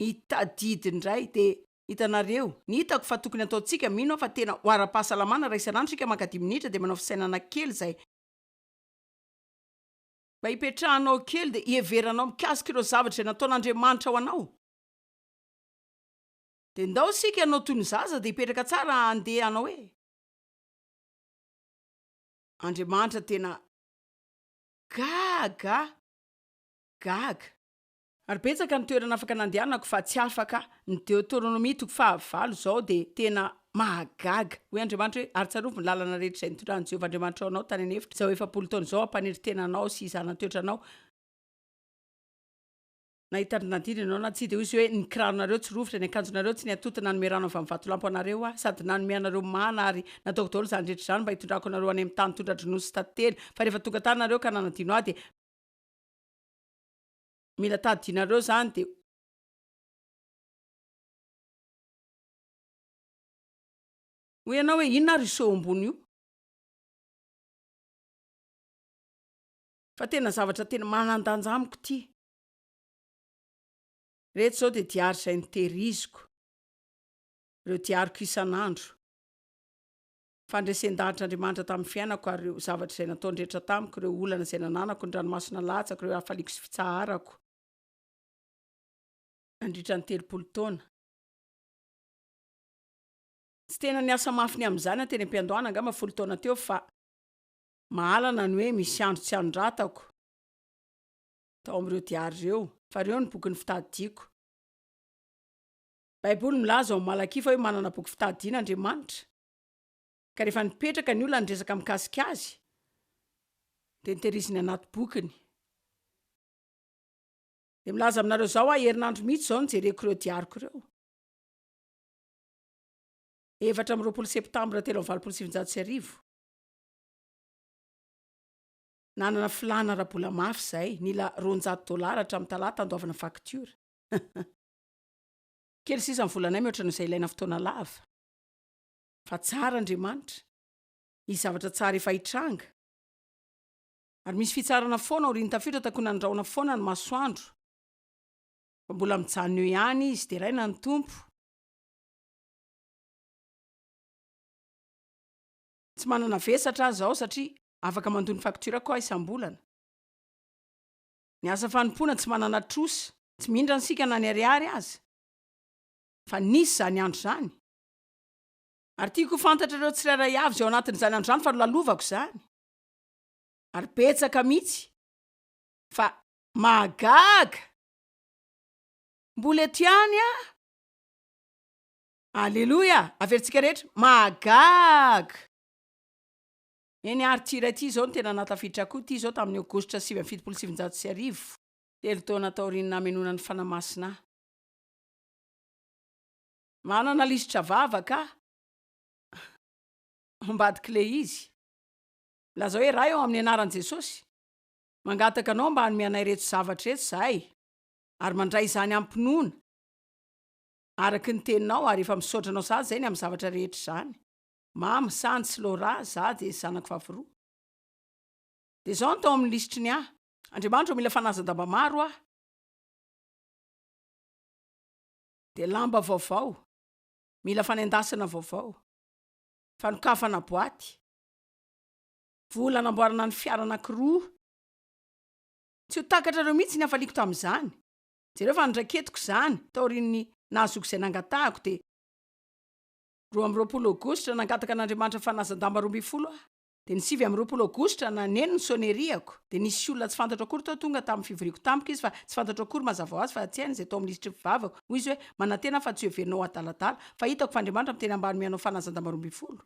I Tadidy indray dia, Hitanareo, ny hitako fa tokony hataontsika, mino aho fa tena ho ara-pahasalamana raha isan'andro isika maka dimy minitra dia manao fisainana kely izay, mba hipetrahanao kely dia hiheveranao mikasika ireo zavatra izay nataon'Andriamanitra ho anao. Dia ndao isika hanao toy ny zaza dia hipetraka tsara handeha hanao hoe, Andriamanitra tena gaga, gaga. Ary betsaka ny toerana afaka nandehanako fa tsy afaka, ny Deoteronomia toko faha valo izao dia tena mahagaga, hoy Andriamanitra hoe, ary tsarovy ny lalana rehetra izay nitondran'i Jehovah Andriamanitrao anao tany an'efitra izao efapolo taona izao hampaniry tena anao sy zana-toetra anao, na hitari-dina ianao na tsia, dia hoy izy hoe, ny kiraronareo tsy rovitra, ny akanjonareo tsy niatoty nanome rano avy amin'ny vatolampy ho anareo aho, sady nanome anareo mana, ary nataoko daholo izany rehetra izany mba hitondrako anareo any amin'ny tany tondra-dronono sy tately, fa rehefa tonga tany ianareo ka nanadino ahy, dia. Mila tadidianareo zany de. Hoy ianao hoe inona ary io seho ambony io? Fa tena zavatra tena manan-danja amiko ity. Reto zao de diary izay nitehiriziko, ireo diariko isan'andro. Fandresen-danitra Andriamanitra tamin'ny fiainako ary ireo zavatra izay nataony rehetra tamiko, ireo olana izay nananako, ny ranomaso nalatsako, ireo hafaliako sy fitsaharako. Nandritra ny telopolo taona. Tsy tena niasa mafy ny amin'izany aho teny am-piandohana, angamba folo taona teo, fa mahalana ny hoe misy andro tsy anoratako tao amin'ireo diary ireo, fa ireo no boky nifitadidiako. Baiboly milaza ao amin'ny Malakia fa hoe manana boky fitadidiana Andriamanitra. Ka rehefa nipetraka ny olona niresaka mikasika azy de nitehiriziny anaty bokiny. De milaza aminareo zao aho herinandro mihitsy zao no jereko ireo diariko ireo. Efatra amby roapolo septambra telo amby valopolo sy sivinjato sy arivo. Nanana filàna ara-bola mafy izahay, nila roanjato dolara hatramin'ny talata handoavana facture. Kely sisa ny volanay mihoatra noho izay ilaina fotoana lava. Fa tsara Andriamanitra. Misy zavatra tsara efa hitranga. Ary misy fitsarana foana aorian'ny tafiotra takonandrahona foana ny masoandro. Fa mbola mijanona eo ihany izy, deraina ny Tompo. Tsy manana vesatra aza aho satria afaka mandoa ny faktiorako aho isam-bolana. Ny asa fanompoana tsy manana trosa, tsy mindra isika na ny ariary aza. fa nisy izany andro izany, ary tiako ho fantatrareo tsirairay avy izay ao anatin'izany andro izany fa nolalovako izany, ary betsaka mihitsy, fa mahagaga! mbola eto ihany aho! aleloia! averintsika rehetra, mahagaga! eny ary ity iray ity izao no tena nahatafiditra ahy koa, ity izao tamin'ny aogositra sivy amby fitopolo sy sivinjato sy arivo, telo taona taorian'ny namenoana ny Fanahy Masina ahy. Manana lisitra vavaka aho ao ambadik'ilay izy. Milazao hoe, Ray ô, amin'ny anaran'i Jesosy, mangataka Anao mba hanome anay ireto zavatra ireto izahay, ary mandray izany amim-pinoana, araka ny Teninao, ary efa misaotra Anao sahady izay ny amin'ny zavatra rehetra izany. Mama, Sandhi sy Laura, izaho dia zanako fahaviroa. Dia izao no tao amin'ny lisitry ny ahy, Andriamanitra ô, mila fanazan-damba maro aho. Dia lamba vaovao, mila fanendasana vaovao, fanokafana boaty, vola hanamboarana ny fiara anankiroa. Tsy ho takatrareo mihitsy ny hafaliako tamin'izany. Jereo fa noraiketiko izany taorian'ny nahazoako izay nangatahako dia roa amby roapolo aogositra nangataka an'Andriamanitra fanazan-damba roa ambin'ny folo aho. Dia ny sivy amby roapolo aogositra naneno ny sonnerie-ako, dia nisy olona tsy fantatro akory tao tonga tamin'ny fivoriako tampoka izy fa tsy fantatro akory mazava ho azy fa tsy hainy izay tao amin'ny lisitry ny fivavako, hoy izy hoe, manantena aho fa tsy hoheverinao ho adaladala, fa hitako fa Andriamanitra miteny ambany mianao fanazan-damba roa ambin'ny folo.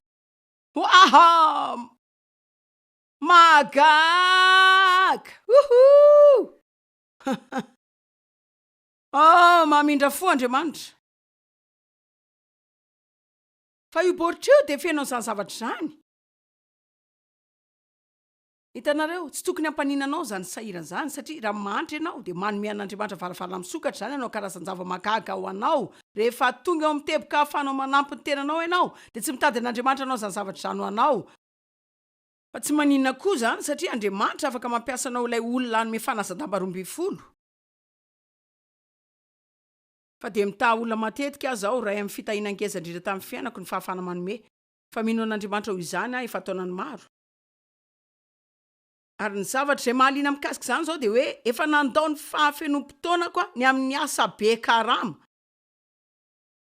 Hoahaam! Mahagaga! Hohoo! Hahah! Oh, mamindra fo Andriamanitra! Fa io baoritra io dia feno an'izany zavatra izany. Hitanareo, tsy tokony hampanina anao izany sahirana izany, satria raha mahantra ianao, dia manome an'Andriamanitra varavarana misokatra, izany hanao karazan-java-mahagaga ho anao. Rehefa tonga eo amin'ny teboka ahafahanao manampy ny tenanao ianao, dia tsy mitady an'Andriamanitra hanao izany zavatra izany ho anao, fa tsy maninona koa izany, satria Andriamanitra afaka mampiasa anao ilay olona hanome fanasan-damba roa ambin'ny folo. Fa dia mitaha olona matetika aza aho, iray amin'ny fitahiana ngeza indrindra tamin'ny fiainako ny fahafahana manome. Fa mino an'Andriamanitra ho izany aho efa taonany maro. Ary ny zavatra izay mahaliana mikasika izany izao dia hoe efa nandao ny fahafenoam-potoanako aho ny amin'ny asa be karama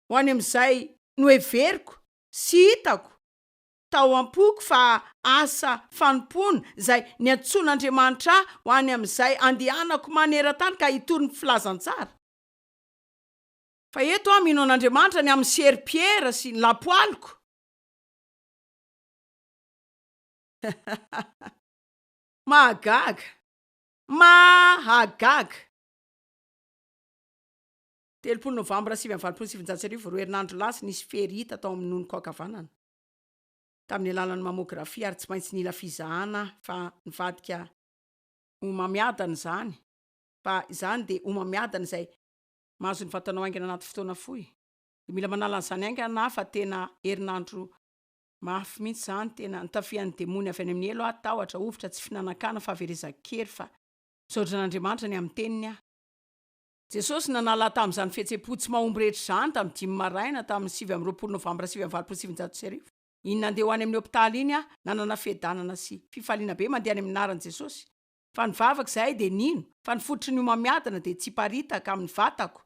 ho any amin'izay noheveriko sy hitako tao am-poko fa asa fanompoana izay niantsoan'Andriamanitra ahy ho any amin'izay andehanako maneran-tany ka hitory ny filazantsara. Fa eto aho mino an'Andriamanitra ny amin'ny serpiera sy ny lapoaliko. Mahagaga! Mahagaga! Telopolo Novambra sivy amby valopolo sy sivinjato sy arivo, roa herinandro lasa, nisy fery hita tao amin'ny nonoko ankavanana, tamin'ny alalan'ny mamographie, ary tsy maintsy nila fizahana aho, fa nivadika homamiadana izany, fa izany dia homamiadana izay mahazo ny vatanao haingana anaty fotoana fohy, dia mila manala an'izany haingana aho fa tena herinandro mafy mihitsy izany, tena nitafian'ny demony avy any amin'ny helo aho, tahotra, hovitra, tsy finanan-kanina, fahaverezan-kery, fa misaotra an'Andriamanitra ny amin'ny teniny aho. Jesosy nanala ahy tamin'izany fihetsem-po tsy mahomby rehetra izany tamin'ny dimy maraina tamin'ny sivy amby roapolo novambra sivy amby valopolo sy sivinjato sy arivo. Iny nandeha ho any amin'ny hopitaly iny aho, nanana fiadanana sy fifaliana be mandeha any amin'ny anaran'i Jesosy. fa ny vavaka izahay dia nino fa ny fototry ny homamiadana dia tsiparitaka amin'ny vatako.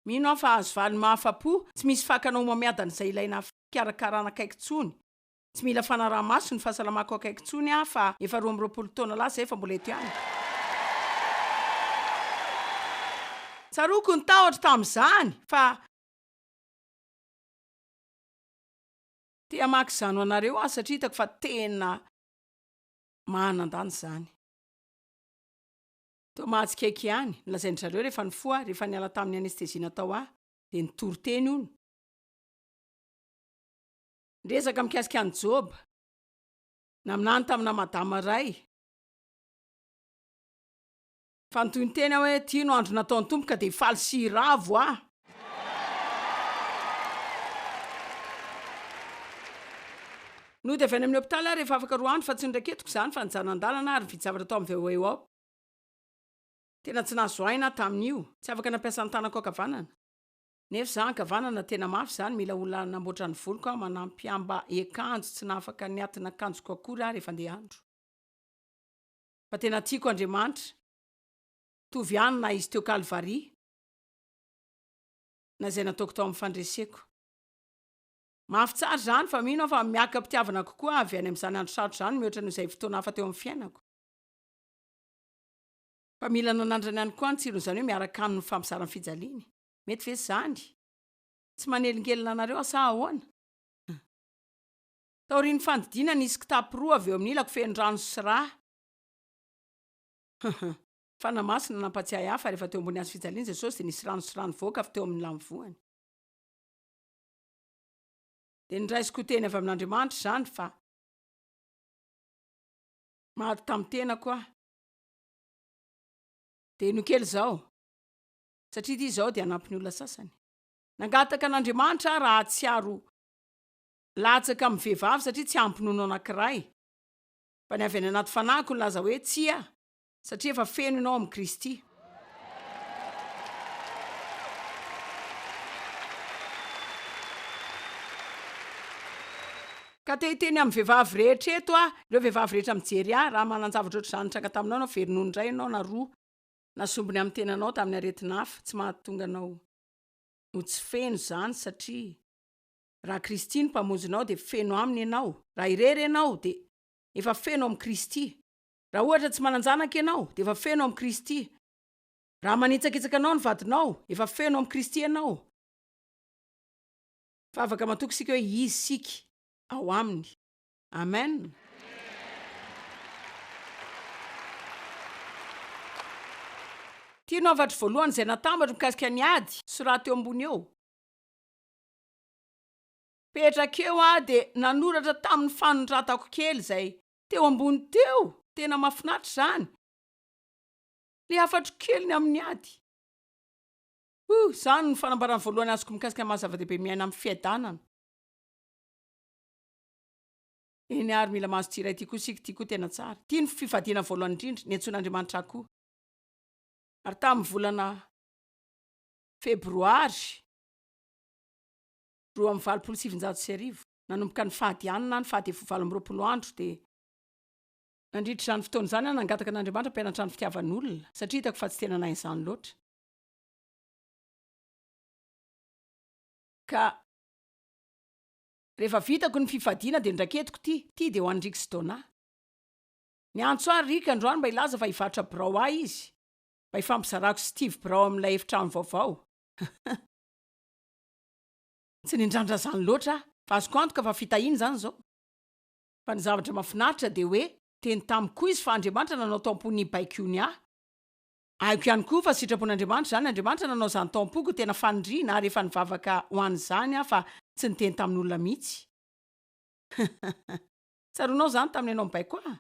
Mino aho fa hahazo valiny mahafa-po, tsy misy fakana homamiadana izay ilaina fikarakarana akaiky intsony. Tsy mila fanaraha-maso ny fahasalamako akaiky intsony aho fa efa roa amby roapolo taona lasa izay fa mbola eto ihany. Tsaroako ny tahotra tamin'izany fa. Te hamaky izany ho anareo aho satria hitako fa tena. mahanan-danja izany. Toa mahatsikaiky ihany, nolazain-dry zareo rehefa nifoha aho, rehefa niala tamin'ny anesthésie natao ahy, dia nitory teny hono. Niresaka mikasika an'i Joba, naminany tamina madama iray. Fa nitohy ny teny aho hoe, Ty no andro nataon'ny Tompo ka dia faly sy hiravo aho. Nody avy any amin'ny hopitaly aho rehefa afaka roa andro fa tsy noraiketiko izany fa nijanandalana ary nividy zavatra tao amin'ny VOO aho. Tena tsy nahazo aina aho tamin'io, tsy afaka nampiasa ny tanako ankavanana. Nefa izaho ankavanana tena mafy izany, mila olona hanamboatra ny voloko aho, manampy am-ba-ekanjo, tsy nahafaka niatina akanjoko akory aho rehefa andeha andro. Fa tena tiako Andriamanitra Mitovy ihany na izy teo Kalvary Na izay nataoko tao amin'ny fandreseko Mafy tsara izany fa mino aho fa miaka am-pitiavana kokoa avy any amin'izany andro sarotra izany mihoatra noho izay fotoana hafa teo amin'ny fiainako. Fa mila nanandrana ihany koa ny tsiron'izany hoe miaraka aminy mifampizara ny fijaliany. Mety ve izany? Tsy manelingelina anareo aho sa ahoana? Taorian'ny fandidiana, nisy kitapo roa avy eo amin'ny ilako feno rano sy rà. Hum, hum. Fanahy Masina nampatsiahy ahy fa rehefa teo ambony hazofijalian'i Jesosy dia nisy rano sy rà nivoaka avy teo amin'ny lamivoany. Dia noraisiko ho teny avy amin'Andriamanitra izany fa maty tamin'ny tenako aho. Dia no kely izao, satria ity izao dia hanampy ny olona sasany. Nangataka an'Andriamanitra aho raha hahatsiaro Latsaka amin'ny vehivavy satria tsy hampinono anankiray. Fa ny avy any anaty fanahiko nilaza hoe, Tsia, satria efa feno ianao amin'i Kristy. Ka te hiteny amin'ny vehivavy rehetra eto aho, ireo vehivavy rehetra mijery ahy, raha manan-javatra ohatr'izany nitranga taminao ianao, very nono iray ianao na roa, na sombiny amin'ny tenanao tamin'ny aretina hafa, tsy mahatonga anao ho tsy feno izany satria. Raha Kristy no Mpamonjinao dia feno Aminy ianao. Raha irery ianao dia efa feno amin'i Kristy. Raha ohatra tsy manan-janaka ianao dia efa feno amin'i Kristy. Raha manitsakitsaka anao ny vadinao, efa feno amin'i Kristy ianao. Fa afaka matoky isika hoe Izy isika, ao Aminy. Amen. Ity no hafatro voalohany izay natambatro mikasika ny ady, soraty eo ambony eo. Petraka eo aho dia nanoratra tamin'ny fanondratako kely izay teo ambony teo, tena mahafinaritra izany, ilay hafatro keliny amin'ny ady. Huh, izany no fanambarana voalohany azoko mikasika ny maha zava-dehibe miaina amin'ny fiadanana. Eny ary mila mahazo ity iray ity koa isika, ity koa tena tsara. Ity no fifadiana voalohany indrindra niantsoan'Andriamanitra ahy koa. Ary tamin'ny volana febroary, Roa amby valopolo sy sivinjato sy arivo, nanomboka ny fahadianana any faha devoho valo amby roapolo andro dia. Nandritra izany fotoana izany aho nangataka an'Andriamanitra hampianatra ny fitiavan'olona satria hitako fa tsy tena nahay izany loatra. Ka rehefa vitako ny fifadiana dia nraketiko ity, ity dia ho an'i Rick sy Donna. Niantso ahy Rick androany mba hilaza fa hivarotra birao ahy izy, mba hifampizarako sy Steve birao amin'ilay efitrano vaovao. Tsy nindrandra izany loatra aho, fa azoko antoka fa fitahiana izany izao. Fa ny zavatra mahafinaritra dia hoe teny tamiko koa Izy fa Andriamanitra nanao tao am-pony hibaiko io ny ahy. Haiko ihany koa fa sitrapon'Andriamanitra izany, Andriamanitra nanao izany tao am-poko ho tena faniriana ary efa nivavaka ho an'izany aho fa tsy niteny tamin'olona mihitsy. Tsaroanao izany tamin'ny ianao nibaiko ahy?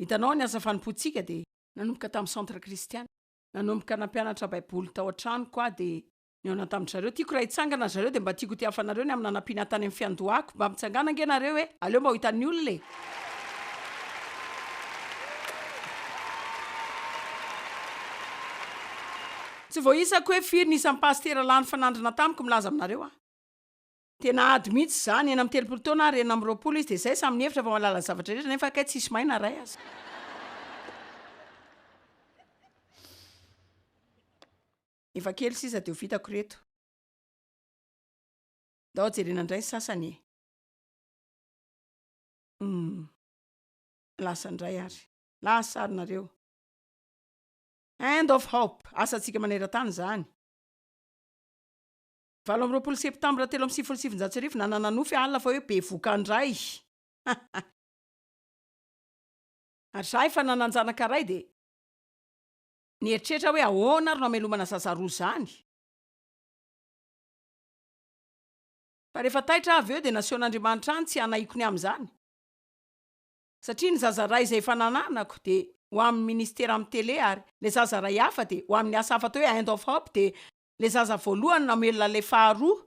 Hitanao, ny asa fanompoantsika dia. Nanomboka tamin'ny Centre Christian. nanomboka nampianatra Baiboly tao an-tranoko aho, dia nihaona tamin-dry zareo. Tiako raha hitsangana ry zareo, dia mba tiako hotiafa anareo ny amin'ny nanampiana ahy tany amin'ny fiandohako. Mba mitsangàna ange nareo e! Aleo mba ho hitan'ny olona e! Tsy voaisako hoe firy ny isam-pasitera lany fanandrana tamiko milaza aminareo aho. Dia nahady mihitsy izany, enina amby telopolo taona ary enina amby roapolo izy, dia izay samy nihevitra fa mahalala ny zavatra rehetra nefa kay tsisy mahay na iray aza. Efa kely sisa dia ho vitako ireto. Ndao jerena indray ny sasany e! Hum. Lasa indray ary. Lasa ary nareo. End of hope, asantsika maneran-tany izany. Valo amby roapolo septambra telo amby sivifolo sy sivinjato sy arivo, nanana nofy i Al fa hoe bevoka ndray. Ary za efa nanan-janaka ray dia nieritreritra aho hoe ahoana ary no hamelomana zaza roa zany. Fa rehefa taitra aho avy eo dia nasehon'Andriamanitra ahy ny tsy hanahiko ny amin'izany. Satria ny zaza ray izay efa nananako dia ho amin'ny ministera amin'ny tele ary ilay zaza ray hafa dia ho amin'ny asa hafa atao hoe Hand of Hope dia Le zaza voalohany namelona le faharoa.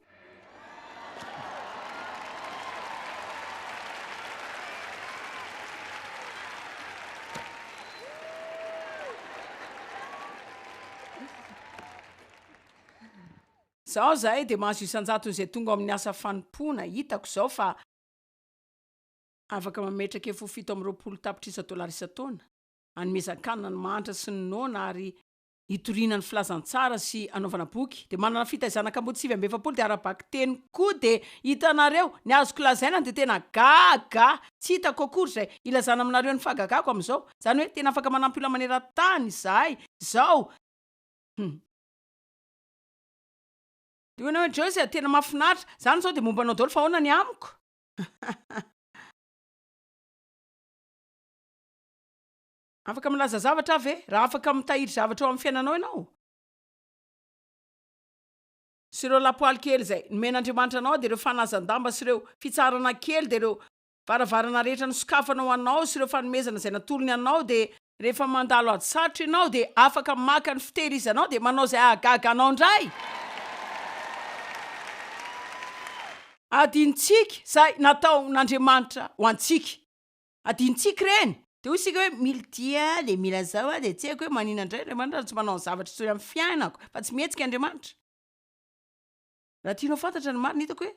Zao zahay de mahazo isan-jatony zay tonga ao amin'ny asa fanompoana, hitako zao fa afaka mametraka ef ho fito amby roapolo tapitrisa dolara isan-taona, hanomezan-kanina ny mahantra sy ny noana ary hitoriana ny filazantsara sy hanaovana boky dia manana fitaizana kamboty sivy amby efapolo dia ara-bakiteny koa dia hitanareo ny azoko lazaina dia tena gaga tsy hitako akory izay hilazana aminareo ny fahagagako amin'izao izany hoe tena afaka manampy olona maneran-tany izahay izao hum dia hoy ianao hoe Joyce a, tena mahafinaritra, izany izao dia momba anao daholo fa ahoana ny amiko? Afaka milaza zavatra aho ve? Raha afaka mitahiry zavatra eo amin'ny fiainanao ianao, sy ireo lapoaly kely izay nomen'Andriamanitra anao dia ireo fanazan-damba sy ireo fitsaharana kely dia ireo varavarana rehetra nosokafana ho anao sy ireo fanomezana izay natolony anao dia rehefa mandalo ady sarotra ianao dia afaka maka ny fitehirizanao dia manao izay hahagaga anao indray adinontsika izay nataon'Andriamanitra ho antsika. Adinontsika ireny. Dia hoy isika hoe, Mila ity aho, dia mila izao aho, dia tsy haiko hoe maninona indray Andriamanitra raha tsy manao zavatra intsony amin'ny fiainako, fa tsy mihetsika Andriamanitra. Raha tianao fantatra ny marina, hitako hoe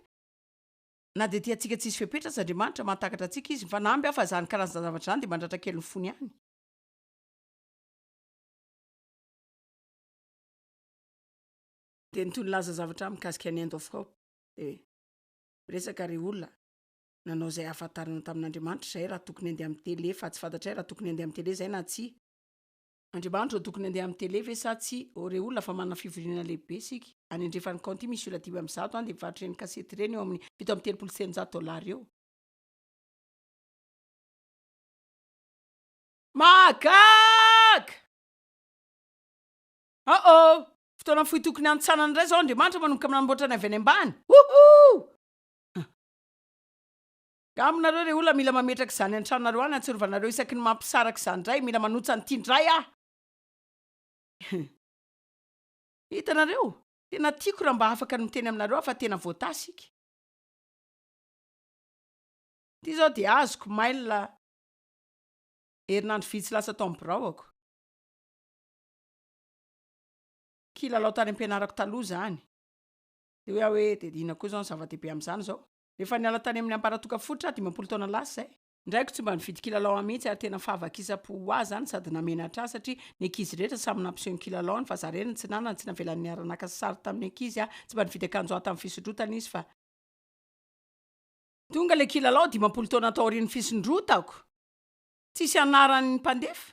na dia tiantsika tsisy fepetra aza Andriamanitra, mahatakatra antsika Izy. Mifanamby aho fa izany karazan-javatra izany dia mandratra kely ny fony ihany. Dia nitohy nilaza zavatra ahy mikasika ny end of hope. Dia miresaka ry olona. nanao izay ahafantarana tamin'Andriamanitra izahay raha tokony handeha amin'ny tele fa tsy fantatray raha tokony handeha amin'ny tele izahay na tsia. Andriamanitra no tokony handeha amin'ny tele ve sa tsia? Ô re olona fa manana fivoriana lehibe isika. Any andrefan'ny kaonty misy olona dimy amby zato any dia mivarotra ireny kasety ireny eo amin'ny fito amby telopolo sy telonjato dollars eo. Mahagaga! Oh oh! Fotoana fohy tokony hanintsanana indray izao Andriamanitra manomboka amin'ny nanamboatra ny avy any ambany. Wouhou! Aminareo re olona mila mametraka izany an-tranonareo any antsirovanareo isaky ny mampisaraka izany indray mila manotsa an'ity indray ah hitanareo tena tiako raha mba afaka ny miteny aminareo aho fa tena voatasy ika ity zao dia azoko mail herinandro vitsy lasa tao amin'ny biraoako kilalao tany am-pianarako taloha zany Dia hoy aho hoe, dia inona koa izao no zava-dehibe amin'izany izao? Efa niala tany amin'ny ambaratonga fototra aho dimampolo taona lasa izay. Ny raiko tsy mba nividy kilalao ahy mihitsy ary tena fahavakisam-po ho ahy izany sady namenatra ahy satria ny ankizy rehetra samy nampiseho ny kilalaony fa izaho irery no tsy nanana, tsy navelany niara-naka sary tamin'ny ankizy aho, tsy mba nividy akanjo ahy tamin'ny fisondrotana izy fa. Tonga ilay kilalao dimampolo taona taorian'ny fisondrotako! Tsisy anaran'ny mpandefa.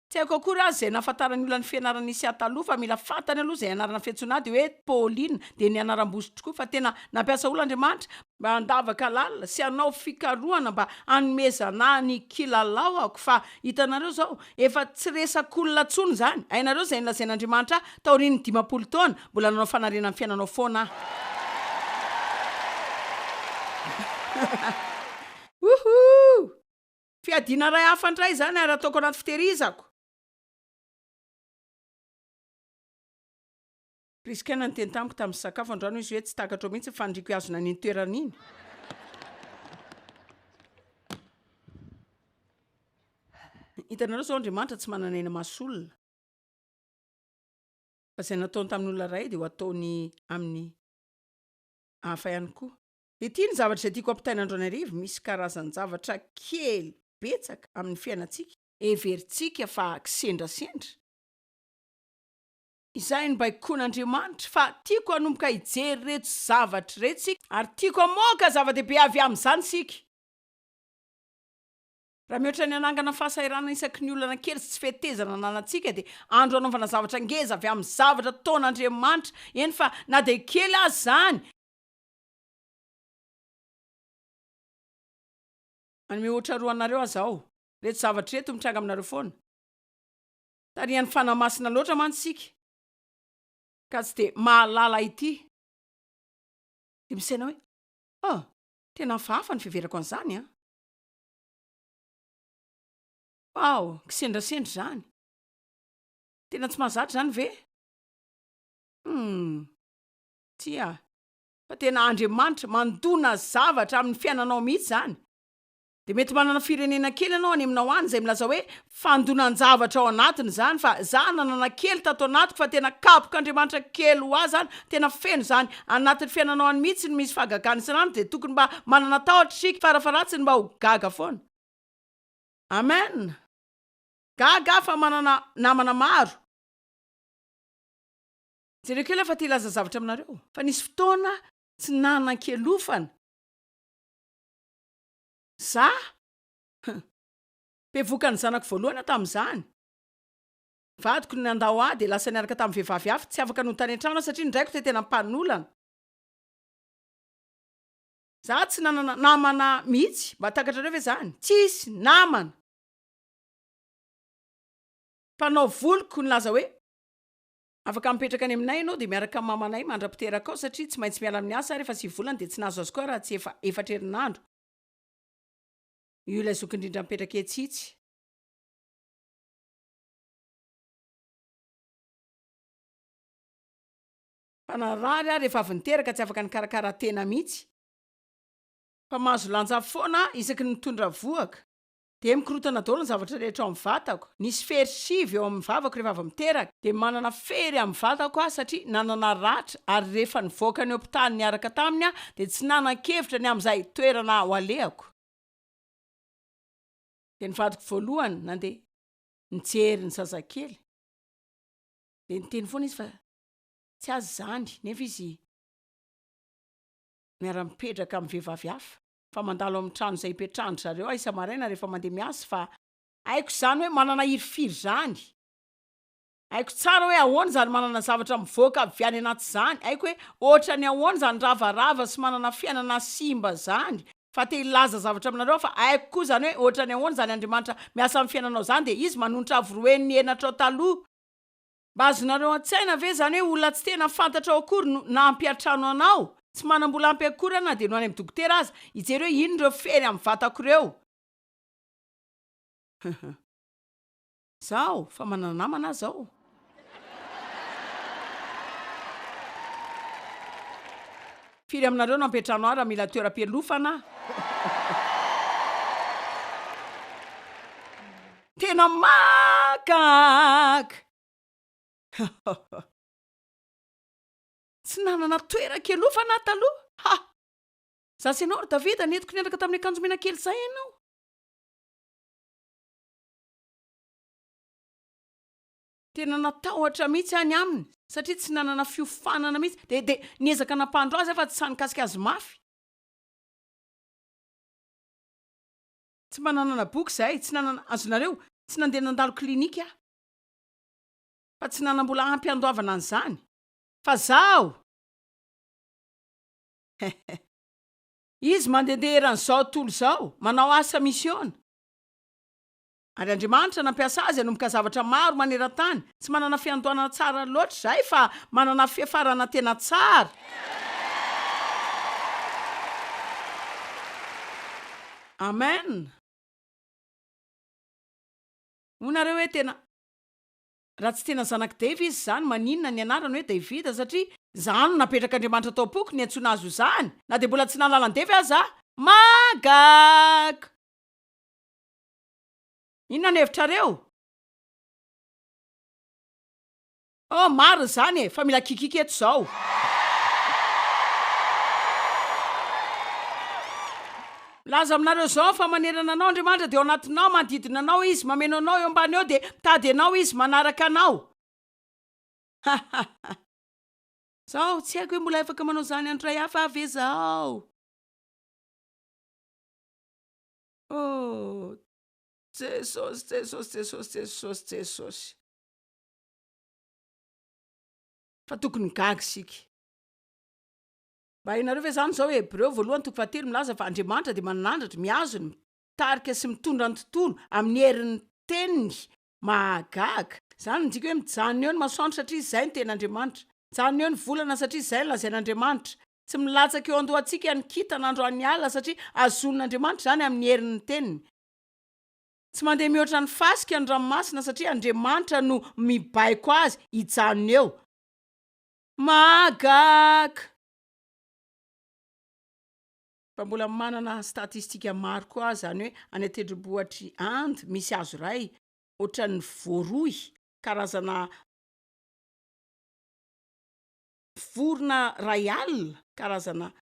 Tsy haiko akory aza izay nahafantaran'ny olona ny fianarana Isia taloha fa mila fantany aloha izay anarana fiantsoana ahy dia hoe Paulina dia ny anaram-bosy tokoa fa tena nampiasa olona Andriamanitra mba handavaka lalina sy hanao fikarohana mba hanomezana ahy ny kilalaoko fa hitanareo izao efa tsy resak'olona intsony izany hainareo izay nolazain'Andriamanitra ahy taorian'ny dimampolo taona mbola nanao fanariana ny fiainanao foana aho. Wouhou! Fiadiana iray hafa indray izany ary ataoko anaty fitehirizako. Prisca naniteny tamiko tamin'ny sakafo androany izy hoe tsy takatrao mihitsy ny faniriako hihazona an'iny toerana iny. Hitanareo izao Andriamanitra tsy manana aina maso olona. Fa izay nataony tamin'ny olona iray dia ho ataony amin'ny hafa ihany koa. Ity ny zavatra izay tiako ampitaina andro an'arivo, misy karazan-javatra kely betsaka amin'ny fiainantsika heverintsika fa kisendrasendra, izay no baikoin'Andriamanitra, fa tiako hanomboka hijery ireto zavatra ireto isika ary tiako hamoaka zava-dehibe avy amin'izany isika. Raha mihoatra ny hanangana fahasahiranana isaky ny olana kely sy tsy fetezana ananantsika dia andro hanaovana zavatra ngeza avy amin'ny zavatra ataon'Andriamanitra, eny fa na dia kely aza izany, Any mihoatra roa anareo aza ao. Reto zavatra ireto mitranga aminareo foana. Tarihan'ny Fanahy Masina loatra mantsy isika ka tsy dia mahalala ity. Dia misaina hoe, oh, tena hafahafa ny fiheverako an'izany an! Wow, kisendrasendra izany. Tena tsy mahazatra izany ve? Humm, tsia, fa tena Andriamanitra mandona zavatra amin'ny fiainanao mihitsy izany. Dia mety manana firenena kely ianao any aminao any izay milaza hoe fandonan-javatra ao anatiny izany fa za nanana kely tato anatiko fa tena kabok'Andriamanitra kely ho ahy izany, tena feno izany anatin'ny fiainanao any mihitsy no misy fahagagana isan'andro dia tokony mba manana tahotra isika farafaharatsiny mba ho gaga foana. Amen! Gaga aho fa manana namana maro. Jereo kely aho fa te hilaza zavatra aminareo, fa nisy fotoana tsy nanan-kialofana zah, hum, bevoka ny zanako voalohany aho tamin'izany, vadiko no nandao ahy dia lasa niaraka tamin'ny vehivavy hafa, tsy afaka nody tany an-trano aho satria ny raiko dia tena mpanolana, zah tsy nanana namana mihitsy, mba takatrareo ve izany? tsisy namana mpanao voliko nilaza hoe. Afaka mipetraka any aminay ianao dia miaraka amin'ny mamanay mandra-piterakao satria tsy maintsy miala amin'ny asa aho rehefa sivy volana dia tsy nahazo azy koa raha tsy efa efatra herinandro io ilay zoky indrindra mipetraka etsy itsy. Fa narary aho rehefa avy niteraka tsy afaka nikarakara tena mihitsy. Fa mahazo lanja foana aho isaky ny mitondra vohoka. dia mikorontana daholo ny zavatra rehetra ao amin'ny vatako, nisy fery sivy eo amin'ny vavako rehefa avy miteraka, dia manana fery amin'ny vatako aho satria nanana ratra ary rehefa nivoaka ny hopitaly niaraka taminy aho dia tsy nanan-kevitra ny amin'izay toerana ho alehako, dia ny vadiko voalohany nandeha nijery ny zazakely, dia niteny foana izy fa tsy azy izany nefa izy miara-mipetraka amin'ny vehivavy hafa. fa mandalo amin'ny trano izay ipetrahan-dry zareo aho isa-maraina rehefa mandeha miasa fa haiko izany hoe manana hirifiry izany, haiko tsara hoe ahoana izany manana zavatra mivoaka avy any anaty izany, haiko hoe ohatran'ny ahoana izany ravarava sy manana fiainana simba izany, fa te hilaza zavatra aminareo aho fa haiko koa izany hoe ohatran'ny ahoana izany Andriamanitra miasa amin'ny fiainanao izany dia Izy manonitra avo roen'ny henatrao taloha, Mba azonareo an-tsaina ve izany hoe olona tsy tena fantatrao akory no nampiantrano anao? Tsy manam-bola ampy akory aho na dia no any amin'ny dokotera aza hijery hoe inona ireo fery amin'ny vatako ireo. Izaho efa manana namana aho izao. Firy aminareo no ampiantrano ahy raha mila toeram-pialofana aho? Tena mahagaga! Hahahha. Tsy nanana toeran-kialofana aho taloha. Ha! Izaho sy ianao ry Davida nentiko nianaka tamin'ny akanjo mena kely izay ianao. Tena natahotra mihitsy aho ny aminy satria tsy nanana fiofanana mihitsy. Dia dia niezaka nampandro azy aho fa tsy sahy nikasika azy mafy. Tsy mba nanana boky izahay, tsy nanana, azonareo, tsy nandeha nandalo clinique aho. Fa tsy nanam-bola ampy handoavana an'izany. Fa izaho! Izy mandehandeha eran'izao tontolo izao, manao asa misiona. Ary Andriamanitra nampiasa azy hanomboka zavatra maro maneran-tany. Tsy manana fiandohanana tsara loatra izahay, fa manana fiafarana tena tsara. Amen! Hoy nareo hoe tena Raha tsy tena zanak'i Dave izy izany maninona ny anarany hoe David satria zah no napetrak'Andriamanitra tao am-poko niantsoana azy ho zany na dia mbola tsy nahalala an'i Dave aza aho. Magag! Inona ny hevitrareo? Ah marina zany e fa mila kikiky eto zao. Milaza aminareo zao fa manerana anao Andriamanitra dia ao anatinao manodidina anao izy mameno anao eo ambany eo dia mitady anao izy manaraka anao ha ha ha Zao tsy haiko hoe mbola afaka manao zany andro ray hafa ve zao oh Jesosy Jesosy Jesosy Jesosy Jesosy Fa tokony gaga isika. Mba hainareo ve izany izao Hebreo voalohany toko fahatelo milaza fa Andriamanitra dia manandratra, mihazona, mitarika sy mitondra ny tontolo amin'ny herin'ny teniny. Mahagaga. Izany no midika hoe mijanona eo ny masoandro satria izay no tena Andriamanitra. Mijanona eo ny volana satria izay no lazain'Andriamanitra. Tsy milatsaka eo an-dohantsika ny kintana androan'ny alina satria hazonin'Andriamanitra izany amin'ny herin'ny teniny. Tsy mandeha mihoatra ny fasika ny ranomasina satria Andriamanitra no mibaiko azy hijanona eo. Mahagag! Fa mbola manana statistika maro koa aho zany hoe any an-tendrombohitr'i Inde misy hazo iray ohatran'ny voaroy, karazana vorona iray alina, karazana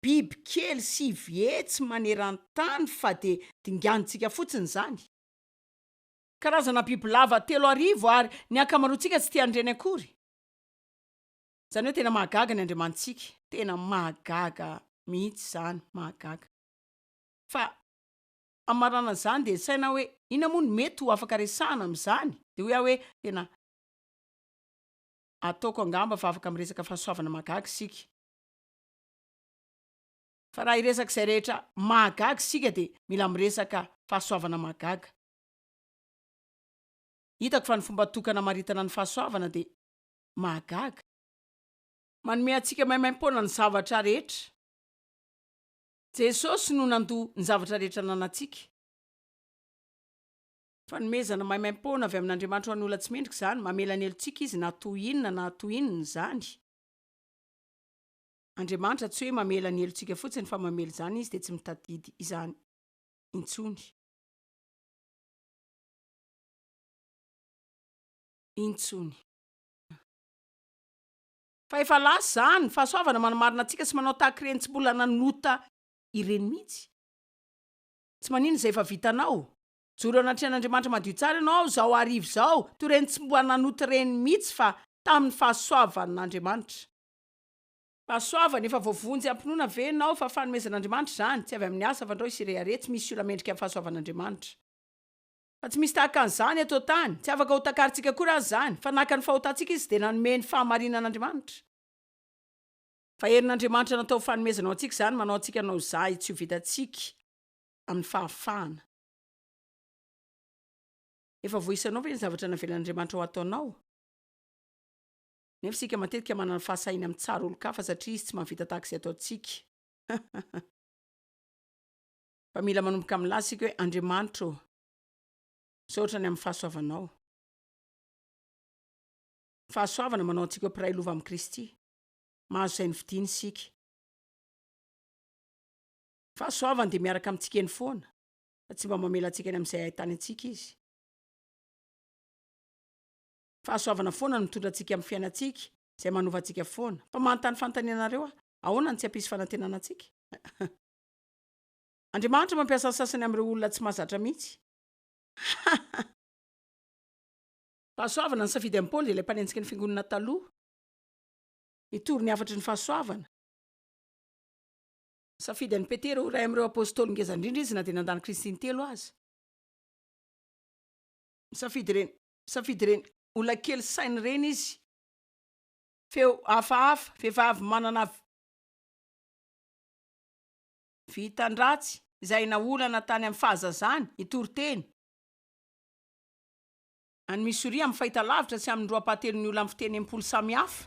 biby kely sivy hetsy maneran-tany fa dia dinganintsika fotsiny izany. Karazana bibilava telo arivo ary ny ankamaroantsika tsy tia an'ireny akory. Izany hoe tena mahagaga ny Andriamanitsika. Tena mahagaga mihitsy izany, mahagaga. Fa hamaranana izany dia nisaina aho hoe, inona moa no mety ho afaka resahana amin'izany? Dia hoy aho hoe, tena ataoko angamba fa afaka miresaka fahasoavana mahagaga isika. Fa raha hiresaka izay rehetra mahagaga isika dia mila miresaka fahasoavana mahagaga. Hitako fa ny fomba tokana amaritana ny fahasoavana dia mahagaga. Manome antsika maimaimpoana ny zavatra rehetra. Jesosy no nandoa ny zavatra rehetra ananantsika. Fanomezana maimaimpoana avy amin'Andriamanitra ho an'ny olona tsy mendrika izany, mamela ny helotsika Izy na toy inona na toy inona izany. Andriamanitra tsy hoe mamela ny helotsika fotsiny fa mamela izany Izy dia tsy mitadidy izany intsony. Intsony. Fa efa lasa izany, fahasoavana manamarina antsika sy manao tahaka ireny tsy mbola nanota ireny mihitsy. Tsy maninona izay efa vitanao. Mijoro eo anatrehan'Andriamanitra madio tsara ianao izao hariva izao, toy ireny tsy mbola nanota ireny mihitsy fa tamin'ny fahasoavan'Andriamanitra. Rasoavana, efa voavonjy am-pinoana ve ianao fa fanomezan'Andriamanitra izany? Tsy avy amin'ny asa fandrao isy rehareha, tsy misy olona mendrika ny fahasoavan'Andriamanitra. Fa tsy misy tahaka an'izany eto an-tany. Tsy afaka hotakarintsika akory aza izany, fa naka ny fahotantsika Izy dia nanome ny fahamarinan'Andriamanitra. Fa herin'Andriamanitra natao ho fanomezana ho antsika izany, manao antsika hanao zahy tsy ho vitantsika amin'ny fahafahana. Efa voaisanao ve ny zavatra navelan'Andriamanitra ho ataonao? Nefa isika matetika manana fahasahiana mitsara olon-kafa satria izy tsy mahavita tahaka izay ataontsika. Fa mila manomboka milaza isika hoe, Andriamanitra ô, misaotra ny amin'ny fahasoavanao. Fahasoavana manao antsika ho mpiray lova amin'i Kristy. Mahazo izay novidiany isika. Fahasoavany dia miaraka amintsika eny foana, fa tsy mba mamela antsika any amin'izay ahitany antsika izy. Fahasoavana foana no mitondra antsika amin'ny fiainantsika, izay manova antsika foana. Fa manontany fanontaniana anareo aho, Ahoana no tsy hampisy fanantenana antsika? Andriamanitra mampiasa ny sasany amin'ireo olona tsy mahazatra mihitsy. Fahasoavana, Nisafidy an'i Paoly, ilay mpanenjiky ny fiangonana taloha, hitory ny hafatry ny fahasoavana. Nisafidy an'i Petera ho iray amin'ireo apostoly ngeza indrindra izy, na dia nandany Kristy intelo aza. Nisafidy ireny Safidy ireny olona kely saina ireny izy. Feo hafahafa, vehivavy manana. Vintan-dratsy, izay naolana tany amin'ny fahazazany, hitory teny. Any Missouri, amin'ny fahitalavitra sy amin'ny roapahatelon'ny olona amin'ny fiteny enimpolo samihafa.